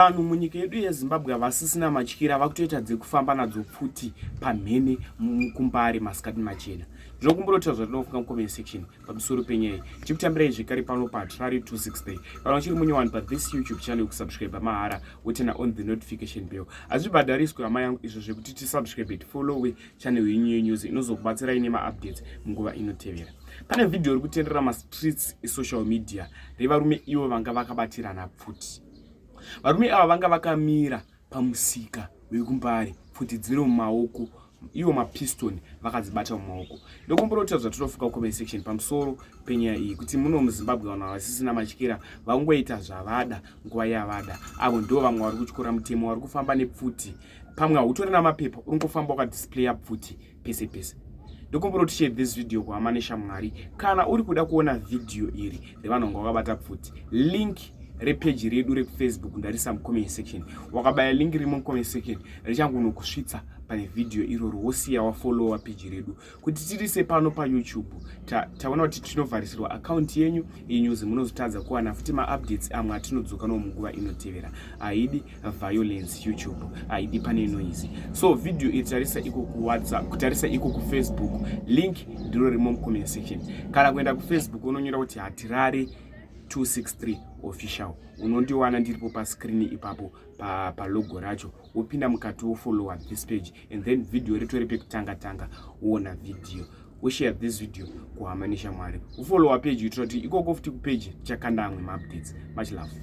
vanhu munyika yedu yezimbabwe havasisina matyira vakutoita dzekufamba nadzo pfuti pamhene mukumbare masikati machena ndinokumburotiwa zvatinofunga mucomment section pamusoro penyaya chikutambirai zvekare pano patrari 263 kana uchiri munyowani pathis youtube channel kusubscribe mahara wotena on the notification bell hazvibhadhariswe hama yangu izvo zvekuti tisubscribe tifollowe channel yenyu yenews inozokubatsirai nemaupdates munguva inotevera pane vhidhiyo iri kutenderera mastreets esocial media revarume ivo vanga vakabatirana pfuti Varume ava vanga vakamira pamusika wekumbare pfuti dziri mumaoko iwo mapiston vakadzibata mumaoko ndokumborota zvatotofuka kucomment section pamusoro penyaya iyi kuti muno muzimbabwe vanhu havasisina matyira vangoita zvavada nguva yavada avo ndo vamwe vari kutyora mutemo vari kufamba nepfuti pamwe hautori namapepa uri kufamba wakadisplaya pfuti pese pese ndokumbura kuti share this video kuhama neshamwari kana uri kuda kuona vhidhiyo iri revanonga wakabata pfuti link repeji redu rekufacebook ndarisa mucomment section wakabaya link rimo mucomment section richangunokusvitsa pane vhidhiyo iroro wosiya wafolowa peji redu kuti tirise pano payoutube taona ta kuti tinovharisirwa akaunti yenyu inyuzi munozotadza kuwana futi maupdates amwe atinodzoka no munguva inotevera haidi violence youtube haidi pane noise so video itarisa iko kuwhatsapp kutarisa iko kufacebook link ndiro rimo mucomment section kana kuenda kufacebook unonyora kuti hatirari 263 official unondiwana ndiripo pascrini ipapo palogo pa racho wopinda mukati wofolowa this page and then video ritori pekutanga tanga woona video woshare this video kuhama neshamwari wofolowa page kuitira kuti ikoko futi kupage tichakanda amwe maupdates much love